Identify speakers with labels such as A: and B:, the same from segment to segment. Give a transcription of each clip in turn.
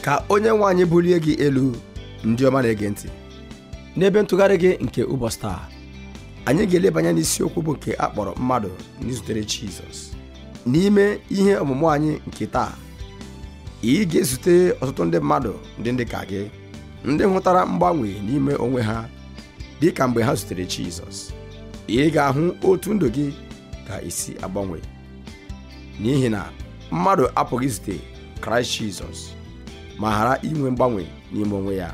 A: ka onye nwe anyị bulie gị elu ndị ọma na-ege ntị n'ebe ntụgharị gị nke ụbọchị taa anyị ga-eleba anya n'isiokwu bụ nke a kpọrọ mmadụ ndị zutere Jizọs n'ime ihe ọmụmụ anyị nke taa ị ga-ezute ọtụtụ ndị mmadụ ndị ndị ka gị ndị hụtara mgbanwe n'ime onwe ha dị ka mgbe ha zutere Jizọs ị ga-ahụ otu ndụ gị ga-esi agbanwe n'ihi na mmadụ apụghị izute Kraịst Jizọs ma ghara inwe mgbanwe n'ime onwe ya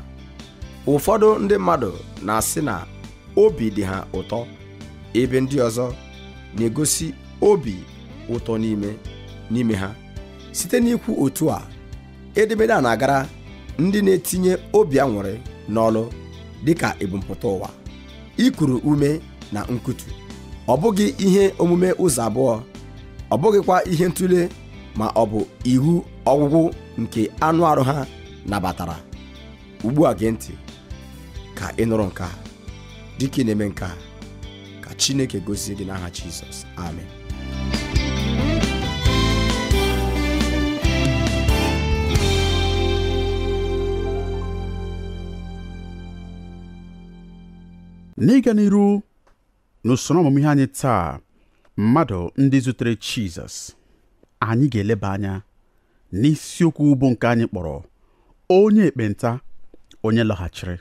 A: ụfọdụ ndị mmadụ na-asị na obi dị ha ụtọ ebe ndị ọzọ na-egosi obi ụtọ n'ime n'ime ha site n'ikwu otu a edemede a na-agara ndị na-etinye obi aṅụrị n'ọlụ dịka ebumpụta ụwa ikuru ume na nkutu ọ bụghị ihe omume ụzọ abụọ ọ bụghịkwa ihe ntụle ma ọ bụ iwu ọgwụgwụ nke anụ arụ ha nabatara ugbu a gee ntị ka ị nụrụ nke a dịka ị na-eme nke a ka chineke gozie gị n'aha jizọs amen
B: n'ịga n'iru N'usoro ọmụmụ ihe anyị taa, mmadụ ndị zutere Jizọs, anyị ga-eleba anya n'isiokwu bụ nke anyị kpọrọ onye ekpenta onye lọghachiri.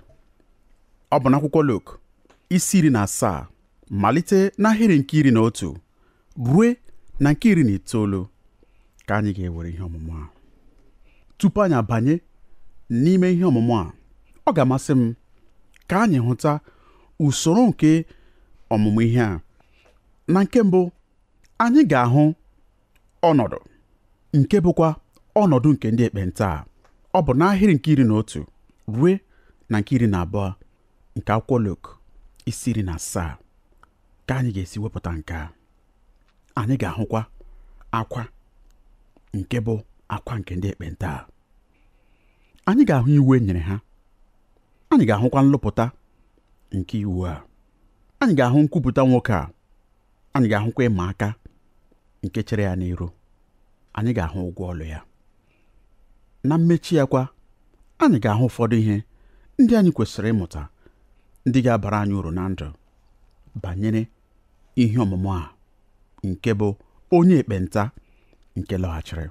B: Ọ bụ n'akwụkwọ Luk isi iri na asaa malite n'ahịrị nke iri na otu rue na nke iri na itoolu ka anyị ga-ewere ihe ọmụmụ a tupu anyị abanye n'ime ihe ọmụmụ a ọ ga-amasị m ka anyị hụta usoro nke ọmụmụ ihe a na nke mbụ anyị ga-ahụ ọnọdụ nke bụkwa ọnọdụ nke ndị ekpenta ọ bụ n'ahịrị nke iri na otu rue na nke iri na abụọ nke akwụkwọ Luk isi iri na asaa ka anyị ga-esi wepụta nke a anyị ga-ahụkwa akwa nke bụ akwa nke ndị ekpenta a anyị ga-ahụ iwu e nyere ha anyị ga-ahụkwa nlụpụta nke iwu a anyị ga-ahụ nkwupụta nwoke a anyị ga-ahụkwa ịma aka nke chere ya n'iru anyị ga-ahụ ụgwọ ọlụ ya na mmechi ya kwa anyị ga-ahụ ụfọdụ ihe ndị anyị kwesịrị ịmụta ndị ga-abara anyị uru na ndụ banyere ihe ọmụmụ a nke bụ onye ekpenta nke lọghachiri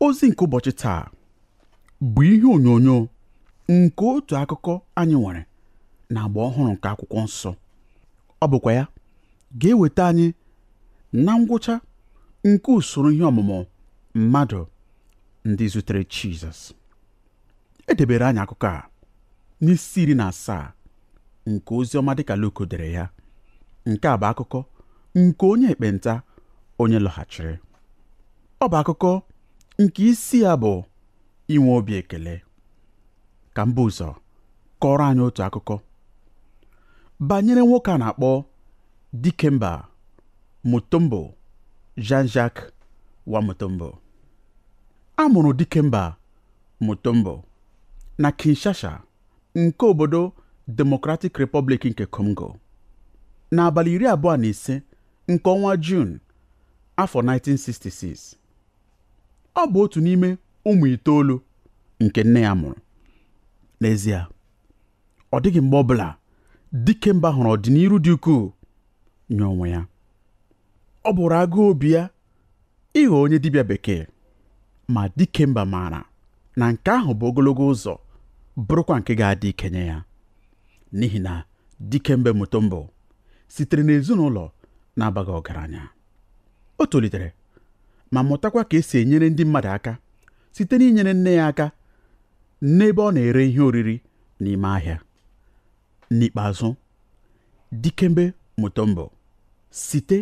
B: ozi nke ụbọchị taa bụ ihe onyonyo nke otu akụkọ anyị nwere na agba ọhụrụ nke akwụkwọ nsọ ọ bụkwa ya ga-eweta anyị na ngwụcha nke usoro ihe ọmụmụ mmadụ ndị zutere Jizọs edebere anyị akụkọ a n'isi iri na asaa nke ozi ọma dịka Luk dere ya nke a bụ akụkọ nke onye ekpenta onye lọghachiri ọ bụ akụkọ nke isi ya bụ inwe obi ekele ka m bu ụzọ kọọrọ anyị otu akụkọ banyere nwoke a na-akpọ Dikemba Mutombo Jean-Jacques Wamutombo a mụrụ Dikemba Mutombo na Kinshasa nke obodo Democratic Republic nke Congo n'abalị iri abụọ na ise nke ọnwa Juun afọ 1966. Ọ bụ otu n'ime ụmụ itoolu nke nne ya mụrụ. N'ezie, ọ dịghị mgbe ọbụla Dikemba hụrụ ọdịnihu dị ukwuu nye onwe ya. Ọ bụụrụ agụụ obi ya ịghọ onye dibịa bekee ma Dikemba maara na nke ahụ bụ ogologo ụzọ bụrụkwa nke ga-adị ike nye ya n'ihi na Dikembe Mutombo sitere n'ezinụlọ na-abaghị ọgaranya o tolitere ma mụtakwa ka esi enyere ndị mmadụ aka site n'inyere nne ya aka n'ebe ọ na-ere ihe oriri n'ime ahịa N'ikpeazụ, Dikembe Mutombo, site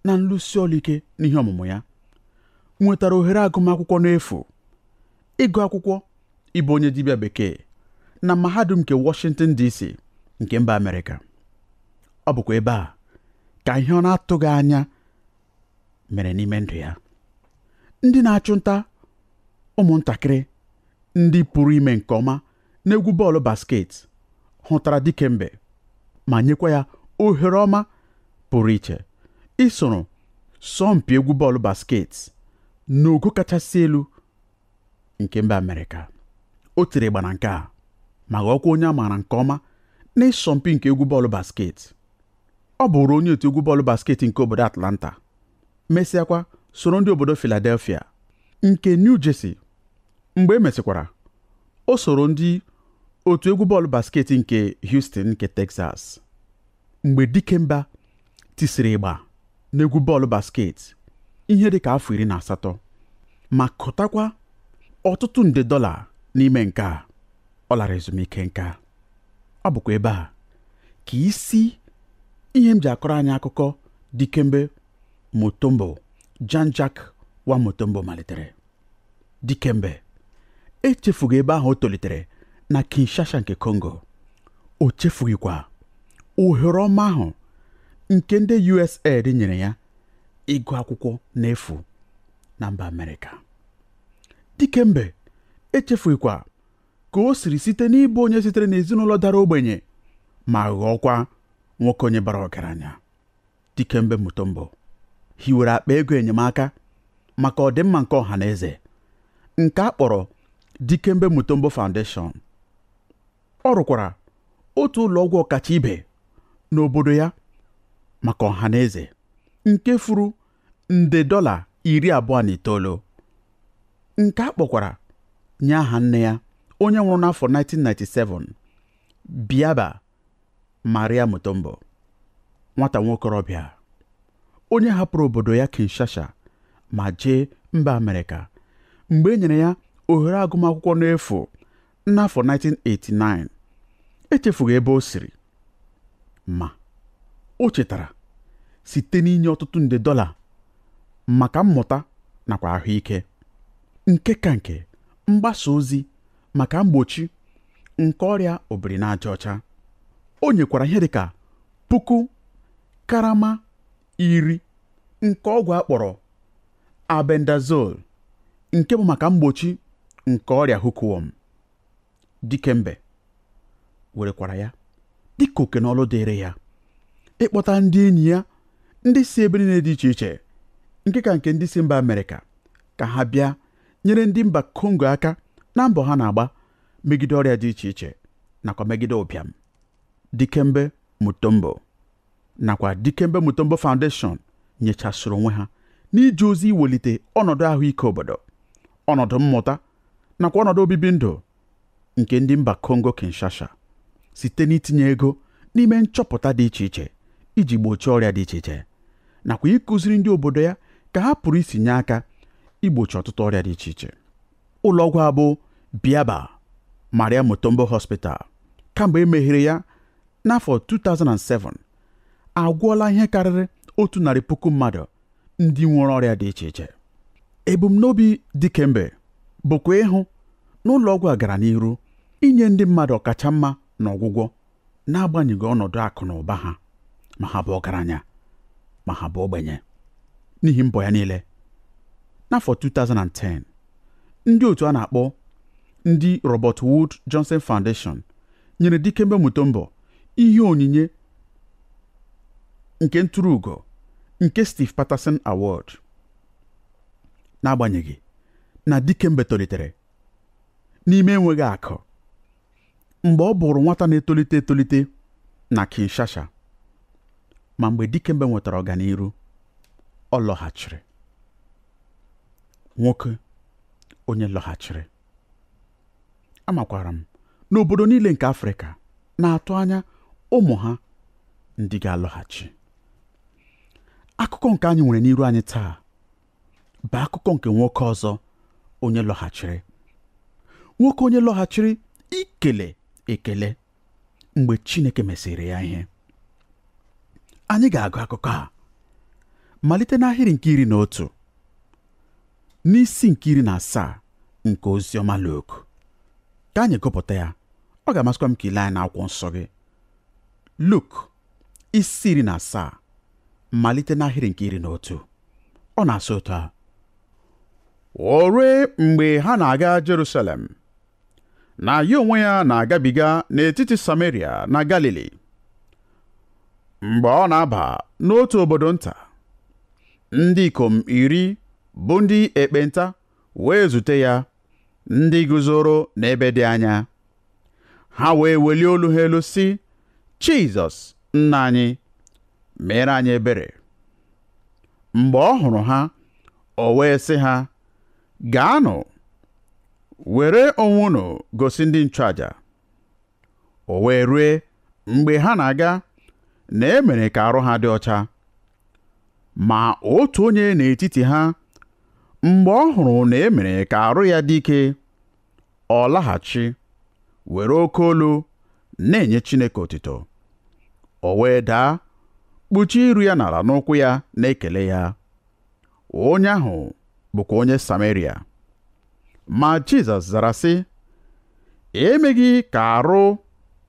B: na nlụsi ọrụ ike n'ihe ọmụmụ ya, nwetara ohere agụmakwụkwọ n'efu, ịgụ akwụkwọ ịbụ onye dibịa bekee na Mahadum nke Washington, DC. nke mba Amerịka. Ọ bụkwa ebe a ka ihe ọ na-atụghị anya mere n'ime ndụ ya. Ndị na-achụ nta ụmụntakịrị ndị pụrụ ime nke ọma n'egwu bọọlụ basket hụtara Dikembe ma nyekwa ya ohere ọma pụrụ iche isoro sọmpi egwu bọọlụ basket n'ogo kachasị elu nke mba Amerịka o tiri ịgba na nke a ma ghọọkwa onye a maara nke ọma n'ịsọmpi nke egwu bọọlụ basket ọ bụụrụ onye otu egwu bọọlụ basket nke obodo Atlanta mesịakwa soro ndị obodo Philadelphia nke New Jersey mgbe e mesịkwara o soro ndị otu egwu bọọlụ basket nke Houston nke Texas mgbe Dikemba tisiri ịgba n'egwu bọọlụ basket ihe dị ka afọ iri na asatọ ma kụtakwa ọtụtụ nde dọla n'ime nke a ọ lara ezumike nka ọ bụkwa ebe a ka isi ihe m ji akọrọ anyị akụkọ Dikembe Mutombo Jean-Jacques Wamutombo malitere Dikembe echefughị ebe ahụ o tolitere na Kinshasa nke Congo o chefughịkwa ohere ọma ahụ nke ndị USAID nyere ya ịgụ akwụkwọ n'efu na mba Amerịka Dikembe echefughịkwa ka o siri site n'ịbụ onye sitere n'ezinụlọ dara ogbenye ma ghọọkwa nwoke onye bara ọgaranya Dikembe Mutombo hiwere akpa ego enyemaka maka ọdịmma nke ọha na eze nke a kpọrọ Dikembe Mutombo Foundation ọ rụkwara otu ụlọ ọgwụ ọkacha ibe n'obodo ya maka ọha na eze nke furu nde dọla iri abụọ na itoolu nke a kpọkwara nye aha nne ya onye nwụrụ n'afọ 1997 Biaba Maria Mutombo nwata nwokorobịa onye hapụrụ obodo ya Kinshasa ma jee mba Amerịka mgbe e nyere ya ohere agụmakwụkwọ n'efu n'afọ 1989 echefughị ebe o siri ma o chetara site n'inye ọtụtụ nde dọla maka mmụta nakwa ahụike nke ka nke mgbasa ozi maka mgbochi nke ọrịa obiri n'aja ọcha o nyekwara ihe dịka puku karama iri nke ọgwụ a kpọrọ albendazole nke bụ maka mgbochi nke ọrịa hookworm dikembe werekwara ya dịka oke na ọlụ dịịrị ya ịkpọta ndị enyi ya ndị si ebe niile dị iche iche nke ka nke ndị si mba amerịka ka ha bịa nyere ndị mba kongo aka na mbọ ha na-agba megide ọrịa dị iche iche nakwa megide ụbịam dikembe mutombo nakwa Dikembe Mutombo Foundation nyechasịrị onwe ha n'ije ozi iwelite ọnọdụ ahụike obodo ọnọdụ mmụta nakwa ọnọdụ obibi ndụ nke ndị mba Kongo Kinshasa site n'itinye ego n'ime nchọpụta dị iche iche iji gbochie ọrịa dị iche iche nakwa ịkụziri ndị obodo ya ka ha pụrụ isi nye aka igbochi ọtụtụ ọrịa dị iche iche ụlọọgwụ a bụ Biaba Maria Mutombo Hospital kamgbe e meghere ya n'afọ 2007 agwọọla ihe karịrị otu narị puku mmadụ ndị nwere ọrịa dị iche iche ebumnobi Dikembe bụkwa ịhụ na ụlọọgwụ a gara n'iru inye ndị mmadụ ọkacha mma n'ọgwụgwọ n'agbanyeghị ọnọdụ akụ na ụba ha ma ha bụ ọgaranya ma ha bụ ogbenye n'ihi mbọ ya niile n'afọ 2010 ndị otu a na-akpọ ndị Robert Wood Johnson Foundation nyere Dikembe Mutombo ihe onyinye nke ntụrụ ugo nke Steve Patterson Award n'agbanyeghị na Dikembe tolitere n'ime enweghị akụ mgbe ọ bụrụ nwata na-etolite etolite na Kinshasa ma mgbe Dikembe nwetara ọganiru ọ lọghachiri nwoke onye lọghachiri amakwara m n'obodo niile nke Afrịka na-atụ anya ụmụ ha ndị ga-alọghachi akụkọ nke anyị nwere n'iru anyị taa bụ akụkọ nke nwoke ọzọ onye lọghachiri nwoke onye lọghachiri ikele ekele mgbe Chineke mesịrị ya ihe anyị ga-agụ akụkọ a malite n'ahịrị nke iri na otu n'isi nke iri na asaa nke ozi ọma Luk ka anyị gụpụta ya ọ ga-amasịkwa m ka i lee anya n'akwụkwọ nsọ gị Luk isi iri na asaa malite n'ahịrị nke iri na otu ọ na-asị otu a o rue mgbe ha na-aga Jerusalem na ya onwe ya na-agabiga n'etiti Sameria na Galili mgbe ọ na-aba n'otu obodo nta ndị ikom iri bụ ndị ekpenta wee zute ya ndị guzoro n'ebe dị anya ha wee welie olu ha elu sị Jizọs nna anyị meere anyị ebere mgbe ọ hụrụ ha o wee sị ha gaanụ were onwe unu gosi ndị nchụaja o wee rue mgbe ha na-aga na e mere ka arụ ha dị ọcha ma otu onye n'etiti ha mgbe ọ hụrụ na e mere ka arụ ya dị ike ọ laghachi were oke olu na-enye Chineke otito o wee daa kpuchie iru ya n'ala n'ụkwụ ya na-ekele ya Onye ahụ bụkwa onye Sameria. Ma Jizọs zara sị, emeghị ka arụ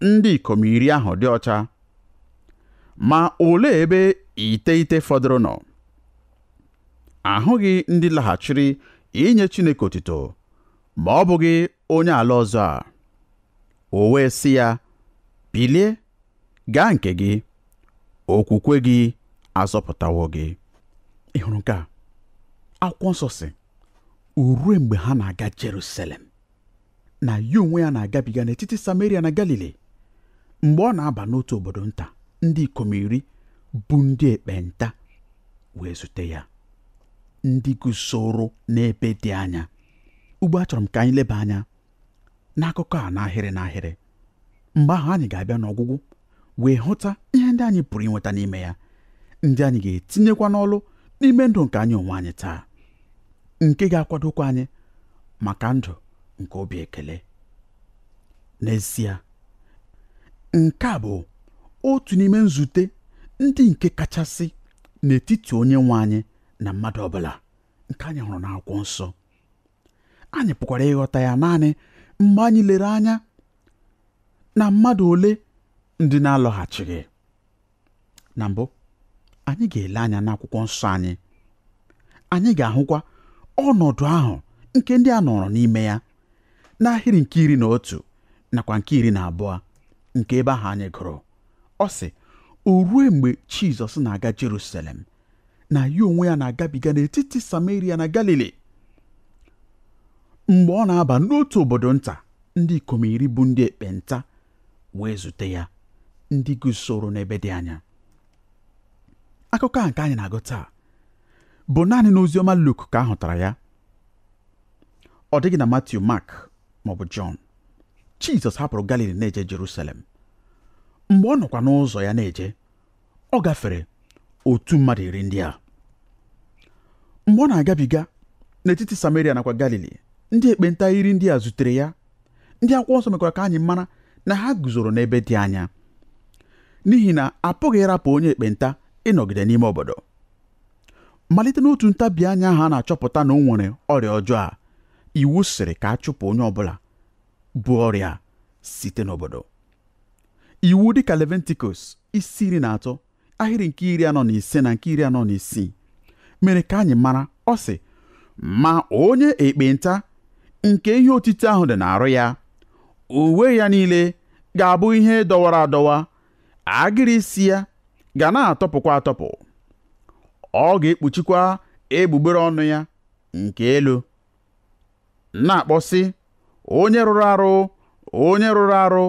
B: ndị ikom iri ahụ dị ọcha. Ma olee ebe iteghete fọdụrụ nọ? Ahụghị ndị laghachiri inye Chineke otuto ma ọ bụghị onye ala ọzọ a. O wee sị ya, Bilie gaa nke gị okwukwe gị azọpụtawo gị ị hụrụ nke a akwụkwọ nsọ sị o rue mgbe ha na-aga Jerusalem na ya onwe ya na-agabiga n'etiti Samaria na Galili mgbe ọ na-aba n'otu obodo nta ndị ikom iri bụ ndị ekpenta wee zute ya ndị guzoro n'ebe dị anya ugbu a achọrọ m ka anyị leba anya n'akụkọ a n'ahịrị n'ahịrị mgbe ahụ anyị ga-abịa n'ọgwụgwụ wee hụta ihe ndị anyị pụrụ inweta n'ime ya ndị anyị ga-etinyekwa n'ọlụ n'ime ndụ nke anyị onwe anyị taa nke ga-akwadokwa anyị maka ndụ nke obi ekele n'ezie nke a bụ otu n'ime nzute ndị nke kachasị n'etiti onye nwe anyị na mmadụ ọbụla nke anyị hụrụ n'akwụkwọ nsọ anyị pụkwara ịghọta ya naanị mgbe anyị lere anya na mmadụ ole ndị na-alọghachighị na mbụ anyị ga-ele anya n'akwụkwọ nsọ anyị anyị ga-ahụkwa ọnọdụ ahụ nke ndị a nọrọ n'ime ya n'ahịrị nke iri na otu nakwa nke iri na abụọ nke ebe ahụ anyị gụrụ ọ sị o rue mgbe Jizọs na-aga Jerusalem na ya onwe ya na-agabiga n'etiti Sameria na Galili mgbe ọ na-aba n'otu obodo nta ndị ikom iri bụ ndị ekpenta wee zute ya ndị guzoro n'ebe dị anya akụkọ a nke anyị na-agụ taa bụ naanị n'oziọma Luk ka a hụtara ya ọ dịghị na Matiu Mak maọbụ Jọn Jizọs hapụrụ Galili na-eje Jerusalem mgbe ọ nọkwa n'ụzọ ya na-eje ọ gafere otu mmadụ iri ndị a mgbe ọ na-agabiga n'etiti Samaria nakwa Galili ndị ekpenta iri ndị a zutere ya ndị akwụkwọ nsọ mekwara ka anyị mara na ha guzoro n'ebe dị anya n'ihi na a pụghị ịrapụ onye ekpenta ịnọgide n'ime obodo malite n'otu ntabi anya ahụ a na-achọpụta na o nwere ọrịa ọjọọ a iwu sịrị ka a chụpụ onye ọbụla bu ọrịa a site n'obodo iwu dịka Levitikọs isi iri na atọ ahịrị nke iri anọ na ise na nke iri anọ na isii mere ka anyị mara ọ sị ma onye ekpenta nke ihe otiti ahụ dị n'arụ ya uwe ya niile ga-abụ ihe dọwara adọwa agịrị isi ya ga na-atọpụkwa atọpụ ọ ga-ekpuchikwa egbugbere ọnụ ya nke elu na-akpọ sị onye rụrụ arụ onye rụrụ arụ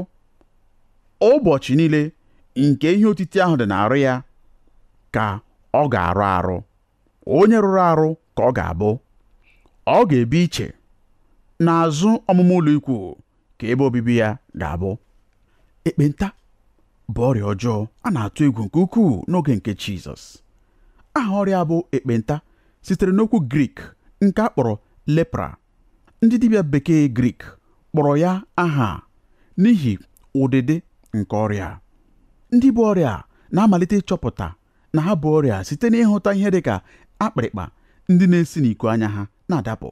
B: ụbọchị niile nke ihe otiti ahụ dị n'arụ ya ka ọ ga-arụ arụ onye rụrụ arụ ka ọ ga-abụ ọ ga-ebi iche n'azụ ọmụma ụlọ ikwu ka ebe obibi ya ga-abụ ekpenta bụ ọrịa ọjọọ a na-atụ egwu nke ukwuu n'oge nke Jizọs aha ọrịa bụ ekpenta sitere n'okwu Grik nke a kpọrọ lepra ndị dibịa bekee Grik kpọrọ ya aha a n'ihi ụdịdị nke ọrịa ndị bu ọrịa na-amalite ịchọpụta na ha bu ọrịa site n'ịhụta ihe dị ka akpịrịkpa ndị na-esi n'iku anya ha na-adapụ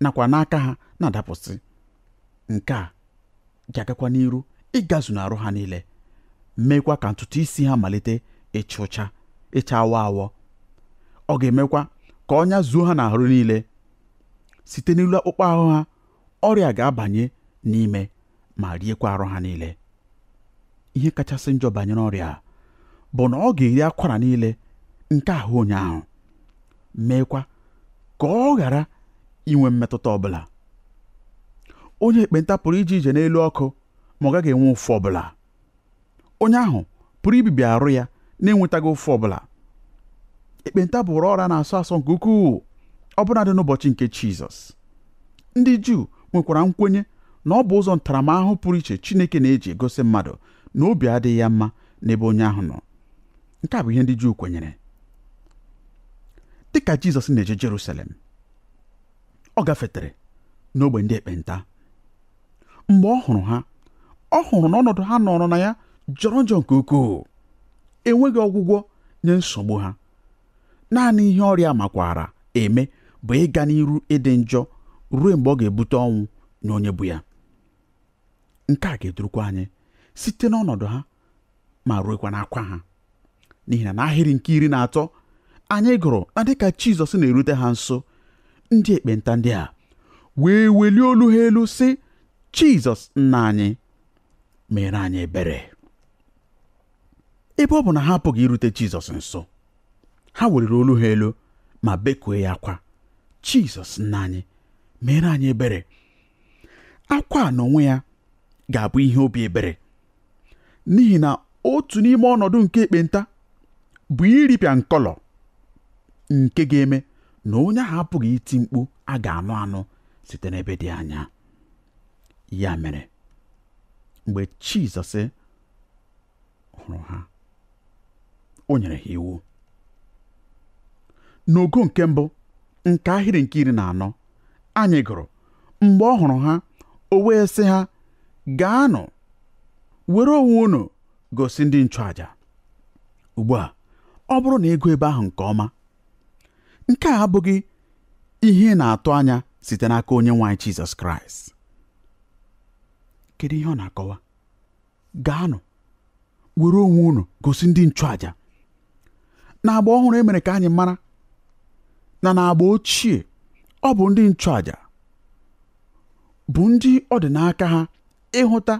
B: nakwa n'aka ha na-adapụsị nke a ga-agakwa n'iru ịgazu n'arụ ha niile meekwa ka ntutu isi ha malite ịcha ụcha ịcha awọ awọ ọ ga-emekwa ka ọnya zuo ha n'ahụ niile site n'elu akpụkpọ ahụ ha ọrịa ga-abanye n'ime ma riekwa arụ ha niile ihe kachasị njọ banyere ọrịa a bụ na ọ ga-eri akwara niile nke ahụ onye ahụ meekwa ka ọ ghara inwe mmetụta ọbụla onye ekpenta pụrụ ije ije n'elu ọkụ ma ọ gaghị enwe ụfụ ọbụla onye ahụ pụrụ ibibi arụ ya na-enwetaghị ụfụ ọbụla ekpenta bụụrụ ọrịa a na-asọ asọ nke ukwuu ọbụnadị n'ụbọchị nke Jizọs ndị Juu nwekwara nkwenye na ọ bụ ụzọ ntaramahụhụ pụrụ iche Chineke na-eji egosi mmadụ na obi adịghị ya mma n'ebe onye ahụ nọ nke a bụ ihe ndị Juu kwenyere dị ka Jizọs na-eje Jerusalem ọ gafetere n'ogbe ndị ekpenta mgbe ọ hụrụ ha ọ hụrụ na ọnọdụ ha nọrọ na ya jọrọ njọ nke ukwuu enweghị ọgwụgwọ nye nsogbu ha naanị ihe ọrịa makwaara eme bụ ịga n'iru ịdị njọ ruo mgbe ọ ga-ebute ọnwụ nye onye bu ya nke a ga-edurukwa anyị site n'ọnọdụ ha ma ruekwa n'akwa ha n'ihi na n'ahịrị nke iri na atọ anyị gụrụ na dịka Jizọs na-erute ha nso ndị ekpenta ndị a wee welie olu ha elu sị Jizọs nna anyị meere anyị ebere ebe ọ bụ na ha apụghị irute Jizọs nso ha weliri olu ha elu ma bekue ya akwa Jizọs nna anyị meere anyị ebere akwa a n'onwe ya ga-abụ ihe obi ebere n'ihi na otu n'ime ọnọdụ nke ekpenta bụ iripịa nkọlọ nke ga-eme na onye ahụ apụghị iti mkpu a ga-anụ anụ site n'ebe dị anya ya mere mgbe Jizọs hụrụ ha o nyere ha iwu n'ogo nke mbụ nke ahịrị nke iri na anọ anyị gụrụ mgbe ọ hụrụ ha o wee sị ha gaanụ were onwe unu gosi ndị nchụaja ugbu a ọ bụrụ na ị gụọ ebe ahụ nke ọma nke a abụghị ihe ị na-atụ anya site n'aka onye nwe anyị Jizọs Kraịst kedu ihe ọ na-akọwa gaanụ were onwe unu gosi ndị nchụaja n'agba ọhụrụ e mere ka anyị mara na n'agba ochie ọ bụ ndị nchụaja bụ ndị ọ dị n'aka ha ịhụta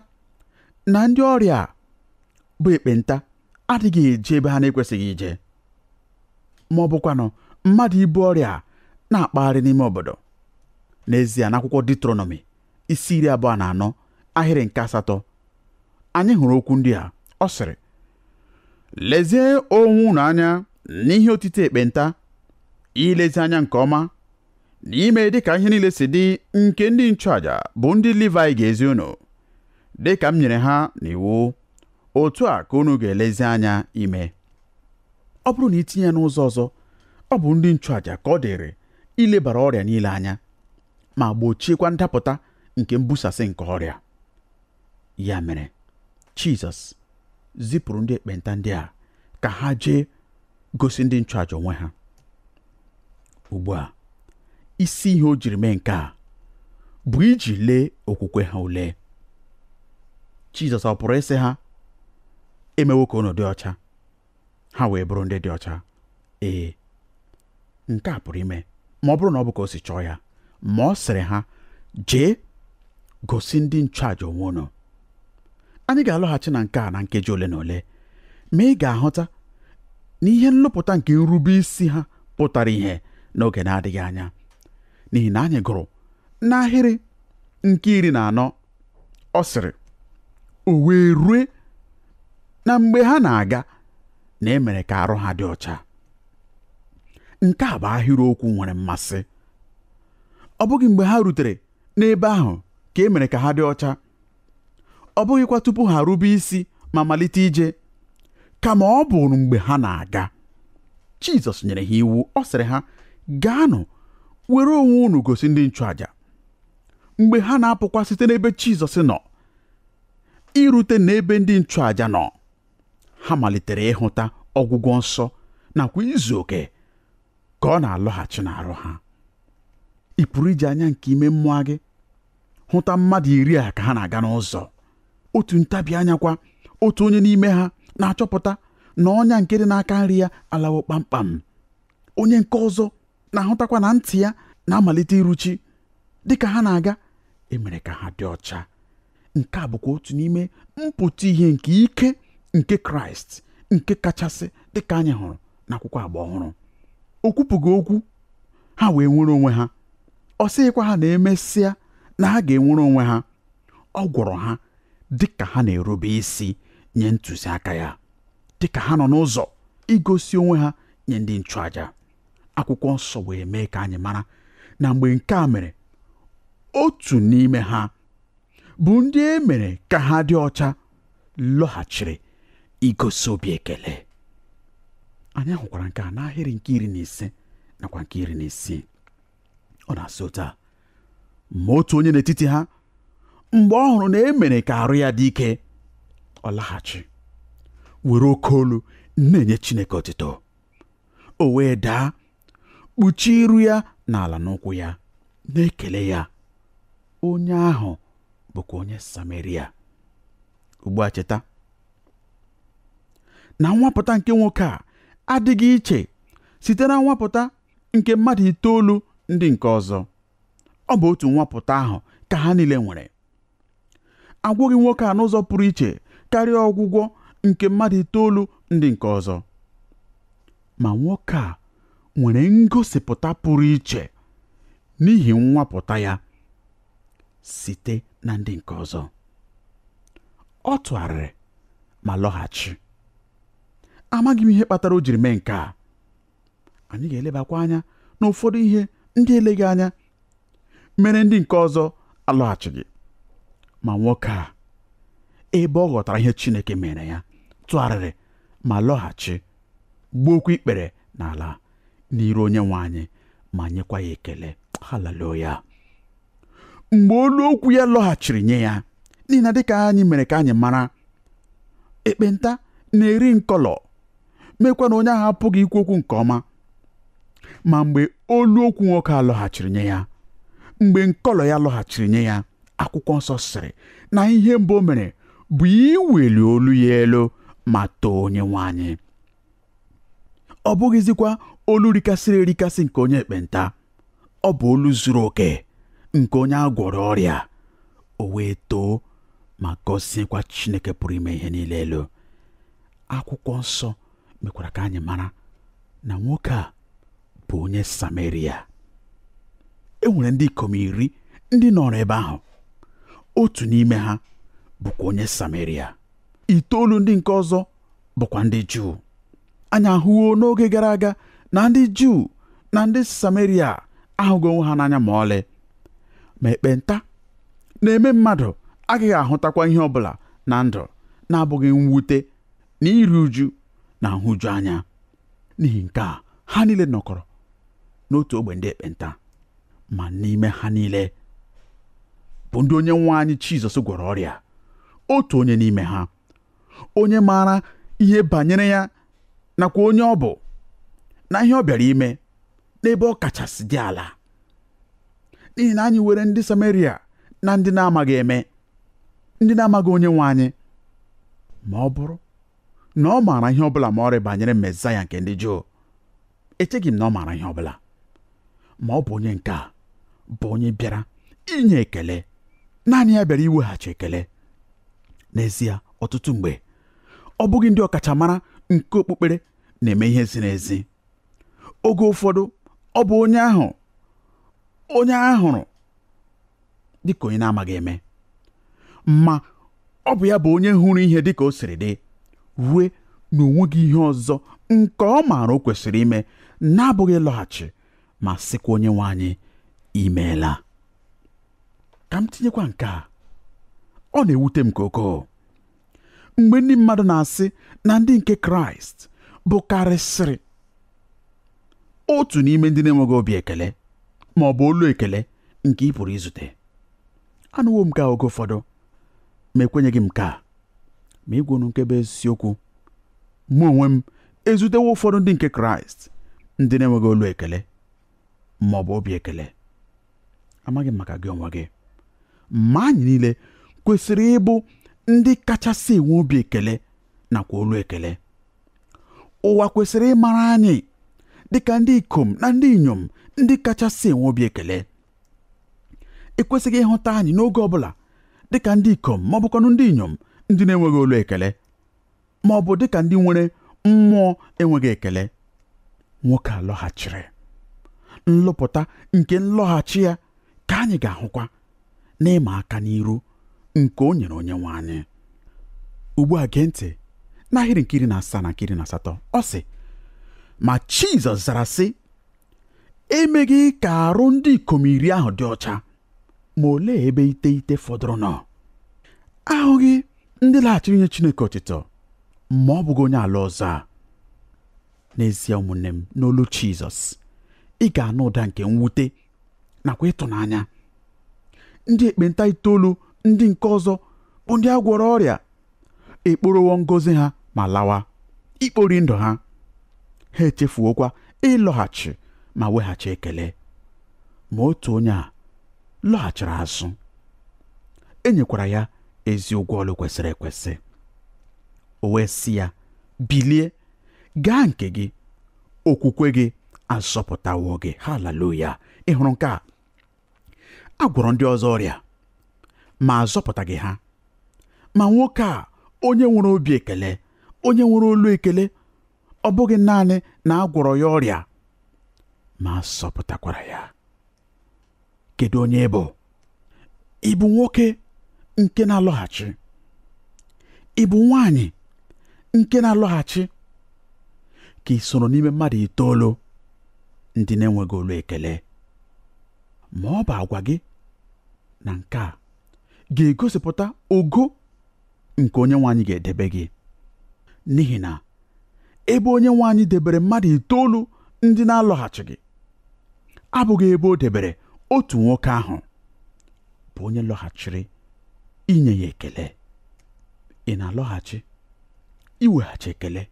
B: na ndị ọrịa bụ ekpenta adịghị eje ebe ha na-ekwesịghị ije ma ọ bụkwanụ mmadụ ibu ọrịa na-akpagharị n'ime obodo n'ezie n'akwụkwọ Diuterọnọmi isi iri abụọ na anọ ahịrị nke asatọ anyị hụrụ okwu ndị a ọ sịrị lezie onwe unu anya n'ihe otiti ekpenta ilezi anya nke ọma na ime dị ka ihe niile si dị nke ndị nchụaja bụ ndị Livaị ga-ezi unu dị ka m nyere ha n'iwu otu a ka unu ga-elezi anya ime ọ bụrụ na i tinye ya n'ụzọ ọzọ ọ bụ ndị nchụaja ka ọ dịrị ilebara ọrịa niile anya ma gbochiekwa ndapụta nke mbusasị nke ọrịa ya mere Jizọs zipụrụ ndị ekpenta ndị a ka ha jee gosi ndị nchụaja onwe ha ugbu a isi ihe o jiri mee nke a bụ iji lee okwukwe ha ule Jizọs ọ pụrụ ịsị ha emewo ka unu dị ọcha ha wee bụrụ ndị dị ọcha ee nke a pụrụ ime ma ọ bụrụ na ọ bụ ka o si chọọ ya ma ọ sịrị ha jee gosi ndị nchụaja onwe unu anyị ga-alọghachi na nke a na nkeji ole na ole ma ị ga-ahụta na ihe nlụpụta nke nrube isi ha pụtara ihe n'oge na-adịghị anya n'ihi na anyị gụrụ n'ahịrị nke iri na anọ ọ sịrị o wee rue na mgbe ha na-aga na e mere ka arụ ha dị ọcha nke a bụ ahịrịokwu nwere mmasị ọ bụghị mgbe ha rutere n'ebe ahụ ka e mere ka ha dị ọcha ọ bụghịkwa tupu ha rube isi ma malite ije kama ọ bụ mgbe ha na-aga Jizọs nyere ha iwu ọ sịrị ha gaanụ were onwe unu gosi ndị nchụaja mgbe ha na-apụkwa site n'ebe Jizọs nọ irute n'ebe ndị nchụaja nọ ha malitere ịhụta ọgwụgwọ nsọ nakwa izu oke ka ọ na-alọghachi n'arụ ha ị pụrụ iji anya nke ime mmụọ gị hụta mmadụ iri a ka ha na-aga n'ụzọ otu ntabi anya kwa otu onye n'ime ha na-achọpụta na ọnya nke dị n'aka nri ya alawo kpamkpam onye nke ọzọ na-ahụtakwa na ntị ya na-amalite iruchi dịka ha na-aga emere ka ha dị ọcha nke a bụkwa otu n'ime mpụta ihe nke ike nke kraịst nke kachasị dịka anyị hụrụ n'akwụkwọ agba ọhụrụ o kwupụghị okwu ha wee nwere onwe ha ọ sịghịkwa ha na emesịa na ha ga-enwere onwe ha ọ gwọrọ ha dịka ha na-erube isi nye ntụziaka ya dịka ha nọ n'ụzọ igosi onwe ha nye ndị nchụaja akwụkwọ nsọ wee mee ka anyị mara na mgbe nke a mere otu n'ime ha bụ ndị e mere ka ha dị ọcha lọghachiri igosi obi ekele anyị hụkwara nke a n'ahịrị nke iri na ise nakwa nke iri na isii ọ na-asị otu a ma otu onye n'etiti ha mgbe ọ hụrụ na e mere ka arụ ya dị ike ọ laghachi were oke olu na-enye Chineke otuto o wee daa kpuchie iru ya n'ala n'ụkwụ ya na-ekele ya onye ahụ bụkwa onye sameria ugbu a cheta na nwapụta nke nwoke a adịghị iche site na nwapụta nke mmadụ itoolu ndị nke ọzọ ọ bụ otu nwapụta ahụ ka ha niile nwere agwọghị nwoke a n'ụzọ pụrụ iche karịa ọgwụgwọ nke mmadụ itoolu ndị nke ọzọ ma nwoke a nwere ngosipụta pụrụ iche n'ihi nwapụta ya site na ndị nke ọzọ ọ tụgharịrị ma lọghachi amaghị m ihe kpatara o jiri mee nke a anyị ga-elebakwa anya n'ụfọdụ ihe ndị eleghị anya mere ndị nke ọzọ alọghachighị ma nwoke a ebe ọ ghọtara ihe Chineke meere ya tụgharịrị ma lọghachi gbuokwa ikpere n'ala n'iru onye nwe anyị ma nyekwa ya ekele haleluya mgbe olu okwu ya lọghachiri nye ya n'ihi na dịka anyị mere ka anyị mara ekpenta na-eri nkọlọ meekwa na onye ahụ apụghị ikwu okwu nke ọma ma mgbe olu okwu nwoke a lọghachiri nye ya mgbe nkọlọ ya lọghachiri nye ya akwụkwọ nsọ sịrị na ihe mbụ o mere bụ iweli olu ya elu ma too onye nwe anyị ọ bụghịzikwa olu rikasịrị erikasị nke onye ekpenta ọ bụ olu zuru oke nke onye a gwọrọ ọrịa o wee too ma gọziekwa Chineke pụrụ ime ihe niile elu akwụkwọ nsọ mekwara ka anyị mara na nwoke a bụ onye Sameria e nwere ndị ikom iri ndị nọrọ ebe ahụ otu n'ime ha bụkwa onye Sameria itoolu ndị nke ọzọ bụkwa ndị Juu anyị ahụwo n'oge gara aga na ndị Juu na ndị Sameria ahụghị onwe ha n'anya ma ọlị ma ekpenta na-eme mmadụ agaghị ahụtakwa ihe ọbụla na ndụ na-abụghị mwute na iru uju na nhụju anya n'ihi nke a ha niile nọkọrọ n'otu ogbe ndị ekpenta ma n'ime ha niile bụ ndị onye nwe anyị Jizọs gwọrọ ọrịa otu onye n'ime ha onye maara ihe banyere ya nakwa onye ọ bụ na ihe ọ bịara ime n'ebe ọ kachasị dị ala n'ihi na anyị were ndị Sameria na ndị na-amaghị eme ndị na-amaghị onye nwe anyị ma ọ bụrụ na ọ maara ihe ọ bụla ma ọlị banyere Mesaya nke ndị Juu echeghị m na ọ maara ihe ọbụla ma ọ bụ onye nke a bụ onye bịara inye ekele naanị ya bịara iweghachi ekele n'ezie ọtụtụ mgbe ọ bụghị ndị ọkachamara nke okpukpere na-eme ihe ziri ezi oge ụfọdụ ọ bụ onye ahụ onye a hụrụ dịka onye na-amaghị eme ma ọ bụ ya bụ onye hụrụ ihe dịka o siri dị rue na o nweghị ihe ọzọ nke ọ maara o kwesịrị ime na-abụghị ịlọghachi ma sịkwa onye nwe anyị imeela ka m tinyekwa nke a ọ na-ewute m nke ukwuu mgbe ndị mmadụ na-asị na ndị nke kraịst bụkarịsịrị otu n'ime ndị na-enweghị obi ekele ma ọ bụ olu ekele nke ị pụrụ izute anụwo m nke a oge ụfọdụ ma ekwenyeghị m nke a ma ịgwa unu nke bụ eziokwu mụ onwe m ezutewo ụfọdụ ndị nke kraịst ndị na-enweghị olu ekele ma ọ bụ obi ekele amaghị m maka gị onwe gị ma anyị niile kwesịrị ịbụ ndị kachasị enwe obi ekele nakwa olu ekele ụwa kwesịrị ịmara anyị dịka ndị ikom na ndị inyom ndị kachasị enwe obi ekele e kwesịghị ịhụta anyị n'oge ọ bụla dịka ndị ikom ma ọ bụkwanụ ndị inyom ndị na-enweghị olu ekele ma ọ bụ dị ka ndị nwere mmụọ enweghị ekele nwoke a lọghachiri nlụpụta nke nlọghachi ya ka anyị ga-ahụkwa n'ịma aka n'iru nke o nyere onye nwe anyị ugbu a gee ntị n'ahịrị nke iri na asaa na nke iri na asatọ ọ sị ma Jizọs zara sị emeghị ka arụ ndị ikom iri ahụ dị ọcha ma olee ebe iteghete fọdụrụ nọ ahụghị ndị laghachiri inye Chineke otito ma ọ bụghị onye ala ọzọ a n'ezie ụmụnne m n'olu Jizọs ị ga-anụ ụda nke mwute nakwa ịtụnanya ndị ekpenta itoolu ndị nke ọzọ bụ ndị a gwọrọ ọrịa ekporowo ngozi ha ma lawa ikpori ndụ ha ha echefuokwa ịlọghachi ma weghachi ekele ma otu onye a lọghachiri azụ e nyekwara ya ezi ụgwọ ọlụ kwesịrị ekwesị o wee sị ya bilie gaa nke gị okwukwe gị azọpụtawo gị haleluya ị hụrụ nke a a gwọrọ ndị ọzọ ọrịa ma azọpụtaghị ha ma nwoke a onye nwere obi ekele onye nwere olu ekele ọ bụghị naanị na a gwọrọ ya ọrịa ma a zọpụtakwara ya kedu onye ị bụ ị bụ nwoke nke na-alọghachi ị bụ nwaanyị nke na-alọghachi ka ị soro n'ime mmadụ itoolu ndị na-enweghị olu ekele ma ọ bụ agwa gị na nke a ga-egosipụta ogo nke onye nwe anyị ga-edebe gị n'ihi na ebe onye nwe anyị debere mmadụ itoolu ndị na-alọghachighị abụghị ebe o debere otu nwoke ahụ bụ onye lọghachiri inye ya ekele ị na-alọghachi iweghachi ekele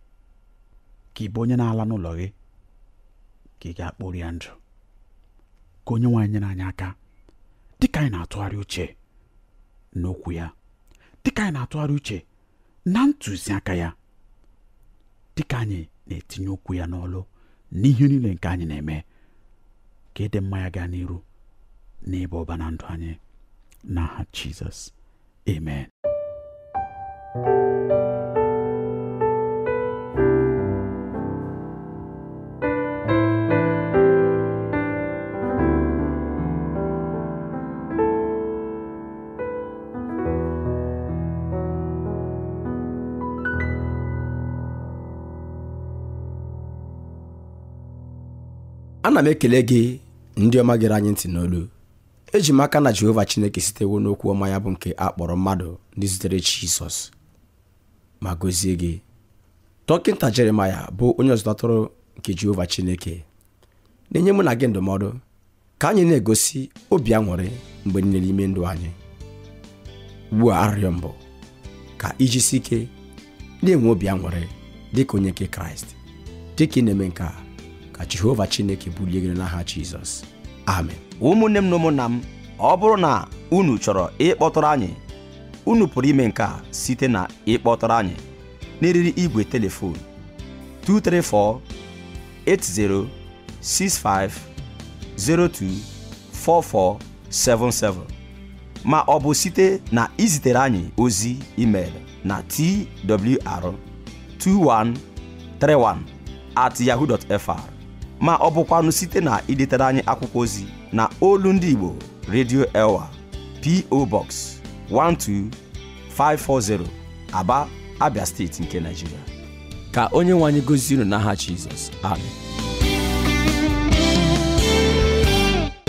B: ka ị bụ onye na-ala n'ụlọ gị ka ị gaa kporia ndụ ka onye nwe anyị nyere anyị aka dịka anyị na-atụgharị uche n'okwu ya dịka anyị na-atụgharị uche na ntụziaka ya dịka anyị na-etinye okwu ya n'ọlụ n'ihe niile nke anyị na-eme ka ịdị mma ya gaa n'iru n'ịba ụba na ndụ anyị n'aha Jizọs amen
A: ana m ekele gị ndị ọma gere anyị ntị n'olu eji m aka na jehova chineke sitewo n'okwu ọma ya bụ nke a kpọrọ mmadụ ndị zutere jizọs ma gọzie gị dọkịta jeremaya bụ onye ọzụzụ atụrụ nke jehova chineke na-enye mụ na gị ndụmọdụ ka anyị na-egosi obi aṅụrị mgbe niile n'ime ndụ anyị ugbu a arịrịọ m bụ ka i jisie ike na-enwe obi aṅụrị dị ka onye nke kraịst dị ka ị na-eme nke a ka jehova chineke bulie gị n'aha jizọs amen ụmụnne m na ụmụnna
C: m ọ bụrụ na unu chọrọ ịkpọtụrụ anyị unu pụrụ ime nke a site na ịkpọtụrụ anyị n'eriri igwe telefon 234 80 65 02 44 77 ma ọ bụ site na izitere anyị ozi email na twr 2131 at yahoo.fr ma ọ bụkwanụ site na idetere anyị akwụkwọ ozi na olu ndị Igbo Radio Elwa PO Box 12540
A: Aba
C: Abia
A: steeti
C: nke
A: Nigeria ka
C: onye
A: nwe anyị gozie unu
C: n'aha
A: Jizọs amen